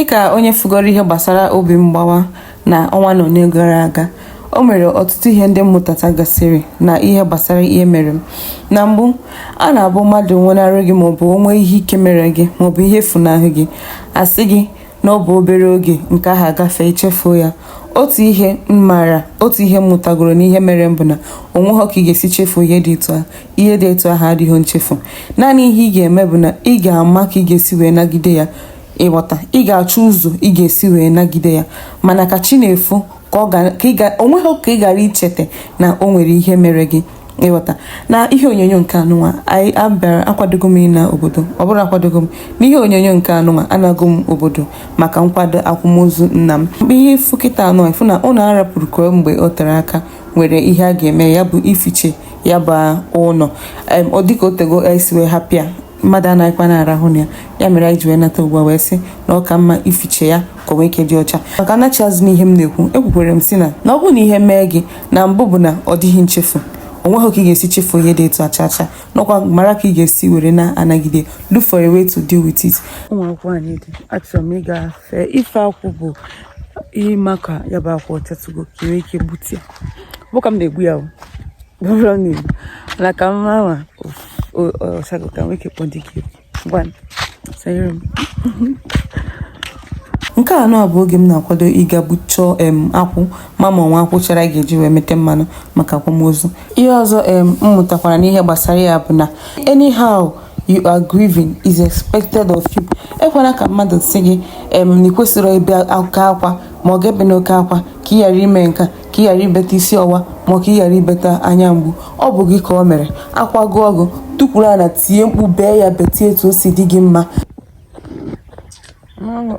dịka onye fụgoro ihe gbasara obi mgbawa na ọnwa na ole gara aga o nwere ọtụtụ ihe ndị m mụtatagasịrị na ihe gbasara ihe mere m na mbụ a na-abụ mmadụ nwụnarị gị maọbụ o nwee ihe ike mere gị maọbụ ihe efunahụ gị a sị gị na ọ bụ obere oge nke ahụ agafe i chefuo ya otu ihe m maara otu ihe m mụtagoro n'ihe mere m bụ na o nweghọ ka ị ga-esi chefuo ihe dị etu ahụ ihe dị etu ahụ adịghị nchefu naanị ihe ị ga-eme bụ na ị ga-ama ka ị ga-esi wee nagide ya ị ghọta ị ga-achọ ụzọ ị ga-esi wee nagide ya mana ka chi na-efo ka ọ ga o nweghị ka ị ghara icheta na o nwere ihe mere gị ị ghọta na ihe onyonyo nke anụnwa anyị abịara akwadogo m ịna obodo ọ bụrọ akwadogo m n'ihe onyonyo nke anụnwa anago m obodo maka nkwado akwamozu nna m mgbe ihe ị fụ kịta anụ ị fụ na ụlọ a rapụrụ kemgbe o tere aka nwere ihe a ga-eme ya bụ ificha ya bụ ụlọ ọ dịka o tego e si wee hapụ ya mmadụ anaghịkwa na-arahụ na ya ya mere anyị ji wee nata ugbu a wee sị na ọ ka mma ificha ya ka o nwee ike dị ọcha ma ka m nachi azụ n'ihe m na-ekwu ekwukwere m sị na na ọ bụrụ na ihe mee gị na mbụ bụ na ọ dịghị nchefu o nweghị ka ị ga-esi chefuo ihe dị etu a cha cha n'ọkwa mara ka ị ga-esi were na-anagide look for a way to deal with it ụmụ akwụkwọ anyị dị achọrọ m ịga fee ife akwụ bụ ihe ma ka ya bụ akwụ ọ chatụgo ka e nwee ike gbutu ya bụ ka m na-egbu ya bụ ọ bụrụ na egbu mana ka m ma ọ sago ka e nwee ike kpọ di gị gwa m sanyere m nke a nụ bụ oge m na-akwado ịga chọọ em akwụ ma m ma-enwe akwụ chara a ga-eji wee meta mmanụ maka akwamozu ihe ọzọ em m mụtakwara n'ihe gbasara ya bụ na anyhow you are grieving is expected of you ekwela ka mmadụ sị gị em na ị kwesịrị ibe oke akwa ma ọ gị ebena oke akwa ka ị ghara ime nke a ka ị ghara ibeta isi ọwa ma ka ị ghara ibeta anya mgbu ọ bụ gị ka ọ mere akwa gụọ gị tukwuru ana tie mkpu bee ya betie etu o si dị gị mma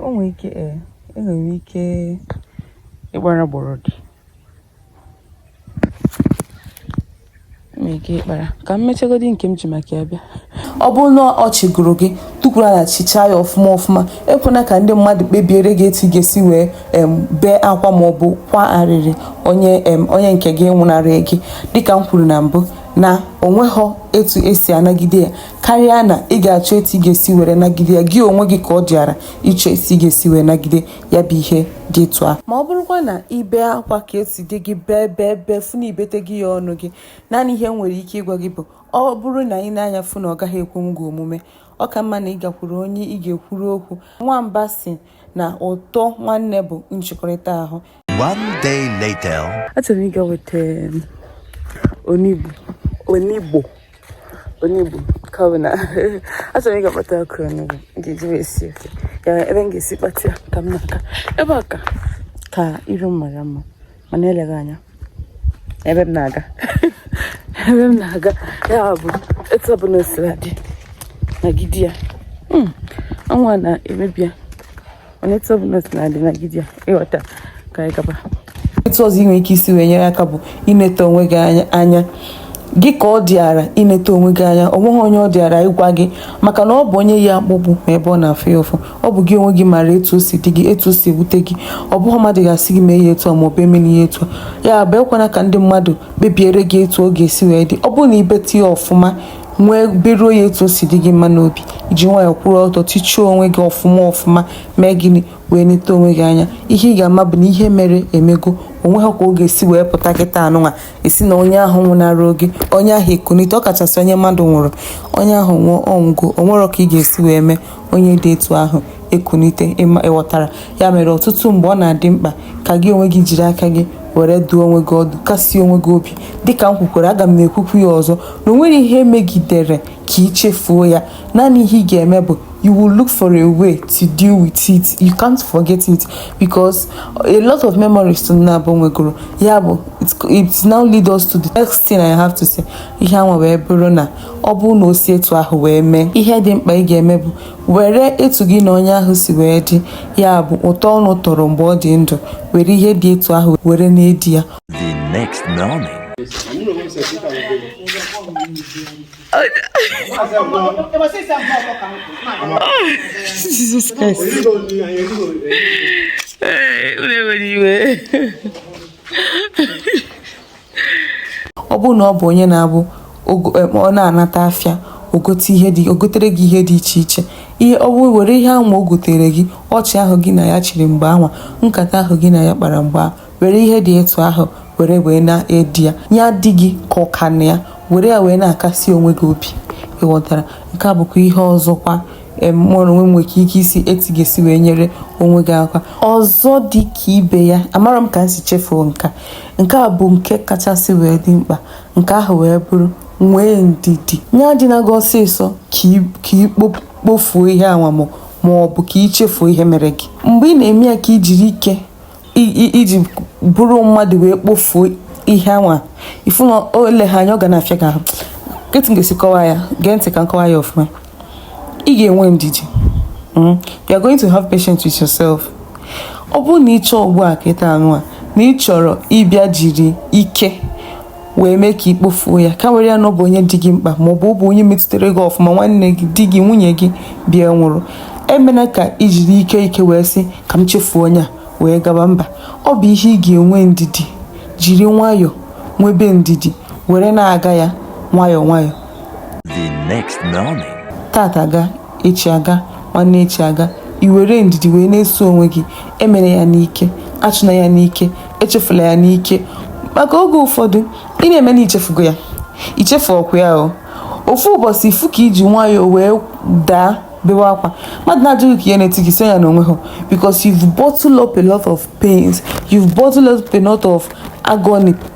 o nwere ike e, e nwere ike ịkpara gbọrọdị ka m mechagodi nke m ji maka ya bịa ọ bụrụ na ọchị gụrụ gị tukwuru ana chịchaa ya ọfụma ọfụma ekwena ka ndị mmadụ kpebiere gị etu ị ga-esi wee bee akwa maọbụ kwa arịrị onye onye nke gị nwụnarị gị dịka m kwuru na mbụ na o nweghọ etu e si anagide ya karịa na ị ga-achọ etu ị ga-esi were nagide ya gị onwe gị ka ọ dịara ịchọ esi ị ga-esi wee nagide ya bụ ihe dị etu a ma ọ bụrụkwa na i bee akwa ka o si dị gị bee bee bee fụ na i betaghị ya ọnụ gị naanị ihe m nwere ike ịgwa gị bụ ọ bụrụ na i nee anya fụ na ọ gaghị ekwe gị omume ọ ka mma na ị gakwuru onye ị ga-ekwuru okwu nwamba sị na ụtọ nwanne bụ nchikọrịta ahụ One day later. Achọrọ m ịga weta um, onugbu onugbu Onugbu kawo na achọrọ m ịga kpata ọkụ onugbu ga-eji wee sie ofe ya ebe m ga-esi kpata ya ka m na-aga ebe a ka ka iru m mara mma mana eleghị anya ebe m na-aga ebe m na-aga ya bụ etu ọbụla o sila dị nagide ya hmm, ọnwa na-emebi ya mana etu ọbụla o sina dị nagide ya ịghọta ka anyị gaba etu ọzọ ị nwere ike isi wee nyere aka bụ ineta onwe gị anya gị ka ọ dịara ineta onwe gị anya o nweghị onye ọ dịara ịgwa gị maka na ọ bụ onye yi akpụkpụ ma ebe ọ na-afụ ya ụfụ ọ bụ gị onwe gị maara etu o si dị gị etu o si ewute gị ọ bụghị mmadụ ga-asị gị mee ya etu a ma ọ bụ emena ya etu a ya bụ ekwana ka ndị mmadụ kpebiere gị etu ọ ga-esi wee dị ọ bụrụ na i bete ya ọfụma wee beruo ya etu o si dị gị mma n'obi iji nwayọọ kwụrụ ọtọ tichuo onwe gị ọfụma ọfụma mee gịnị wee neta onwe gị anya ihe ị ga-ama bụ na ihe mere emego o nweho ka ọ ga-esi wee pụta kịtaa nụnwa ị sị na onye ahụ nwụnara gị onye ahụ ekunite ọ kachasị onye mmadụ nwụrụ onye ahụ nwụọ ọ nwụgo o nweho ka ị ga-esi wee mee onye dị etu ahụ ekunite ịma ịghọtara ya mere ọtụtụ mgbe ọ na-adị mkpa ka gị onwe gị jiri aka gị were duo onwe gị ọdụ kasie onwe gị obi dịka m kwukwara aga m ekwukwu ya ọzọ na o nwere ihe megidere ka ị chefuo ya naanị ihe ị ga-eme bụ you will look for a way to deal with it you can't forget it because a lot of memories unu naabọ nwegoro ya bụ it now lead us to the next thing I have to say ihe anwa wee bụrụ na ọ bụrụ na o si etu ahụ wee mee ihe dị mkpa ị ga-eme bụ were etu gị na onye ahụ si wee dị ya bụ ụtọ unu tọrọ mgbe ọ dị ndụ were ihe dị etu ahụ were na-edi ya ọ bụrụ na ọ bụ onye na-abụ ọ na-anata afịa o gote ihe dị o gotere gị ihe dị iche iche ihe ọ bụrụ were ihe anwa o gotere gị ọchị ahụ gị na ya chịrị mgbe anwa nkata ahụ gị na ya kpara mgbe ahụ were ihe dị etu ahụ were wee na-edi ya ya adị gị ka ọ ka nọ ya were ya wee na-akasi onwe gị obi ịghọtara nke a bụkwa ihe ọzọkwa mụrụ onwe nwere ike ike isi etu ị ga-esi wee nyere onwe gị aka ọzọ dị ka ibe ya amarọ m ka m si chefuo nka nke a bụ nke kachasị wee dị mkpa nke ahụ wee bụrụ nwee ndidi ya adịna gị ọsịsọ ka i kpofuo ihe anwa ma ọ bụ ka i chefuo ihe mere gị mgbe ị na-eme ya ka i jiri ike i ji bụrụ mmadụ wee kpofuo ihe anwa ị fụ na eleghị anya ọ ga na-afịa gị ahụ kee etu ị ga-esi kọwa ya gee ntị ka m kọwaa ya ọfụma ị ga-enwe ndidi hmm? you are going to have patience with yourself ọ bụrụ na ị chọọ ugbu a kịtaa nụwa na ị chọrọ ịbịa jiri ike wee mee ka ikpofuo ya ka were ya na ọ bụ onye dị gị mkpa ma ọ bụ ọ bụ onye metụtara gị ọfụma nwanne gị di gị nwunye gị bịa nwụrụ emena ka ijiri ike ike wee sị ka m chefuo onye a wee gaba mba ọ bụ ihe ị ga-enwe ndidi jiri nwayọọ nwebe ndidi were na-aga ya nwayọọ nwayọọ the next morning. tata aga Echi aga, nwanne echi aga, i were ndidi wee na-eso onwe gị, emela ya n'ike, achụna ya n'ike, echefula ya n'ike, maka oge ụfọdụ ị na-eme na ichefugo ya, ichefurọkwa ya o, ofu ụbọchị ifu ka iji nwayọọ wee daa bewe akwa, mmadụ na-ajụ gị kee ihe na-eti gị ị sị ya na onwehọ because you've bottled up a lot of pains, you've bottled up a lot of agony.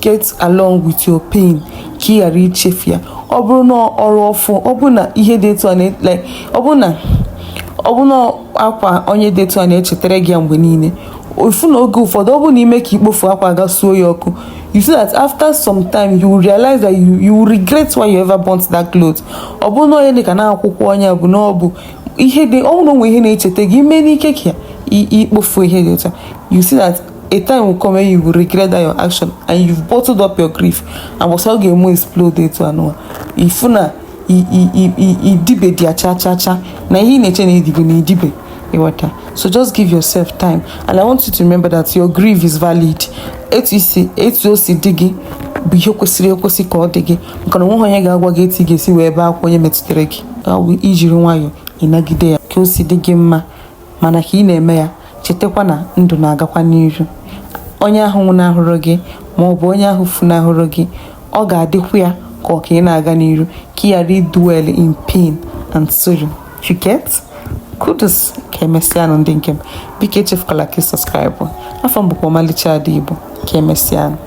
get along with your pain ka ị ghara ichefu ya ọ bụrụ na ọrụ ọfụ ọ bụrụ na ihe dị etu a like ọ bụrụ na ọ bụrụ na akwa onye dị etu a na-echetara gị ya mgbe niile ofu na oge ụfọdụ ọ bụrụ na ime ka ikpofu akwa a gaa suo ya ọkụ you see that after some time you will realize that you, you will regret why you ever burnt that cloth ọ bụrụ na onye dị ka na akwụkwọ onye bụ na ọ bụ ihe dị ọ bụrụ na onwe ihe na-echeta gị ime n'ike ka ikpofu ihe dị etu a you see that a time will come when you will regret that your action and you've bottled up your grief and once ọ ga-eme explode etu anụwa ifu na idibedị ya cha cha cha na ihe ị na-eche na idibe na idibe ịghọta so just give yourself time and i want you to remember that your grief is valid etu isi etu o si dị gị bụ ihe kwesịrị ekwesị ka ọ dị gị maka na onweghị onye ga-agwa gị etu ị ga-esi wee ebe akwa onye metụtara gị ijiri nwayọọ ịnagide ya ka o si dị gị mma mana ka ị na-eme ya chetakwa na ndụ na-agakwa n'iru onye ahụ nwụnahụrụ gị ma ọ bụ onye ahụ funahụrụ gị ọ ga-adịkwu ya ka ọ ka ị na-aga n'iru ka ị ghara idwell in pain and sorrow you get kudos ka emesịanụ ndị nke m biko echefukwala ka ị subscribe afa m bụkwa ọmalịcha ada igbo ka emesịanụ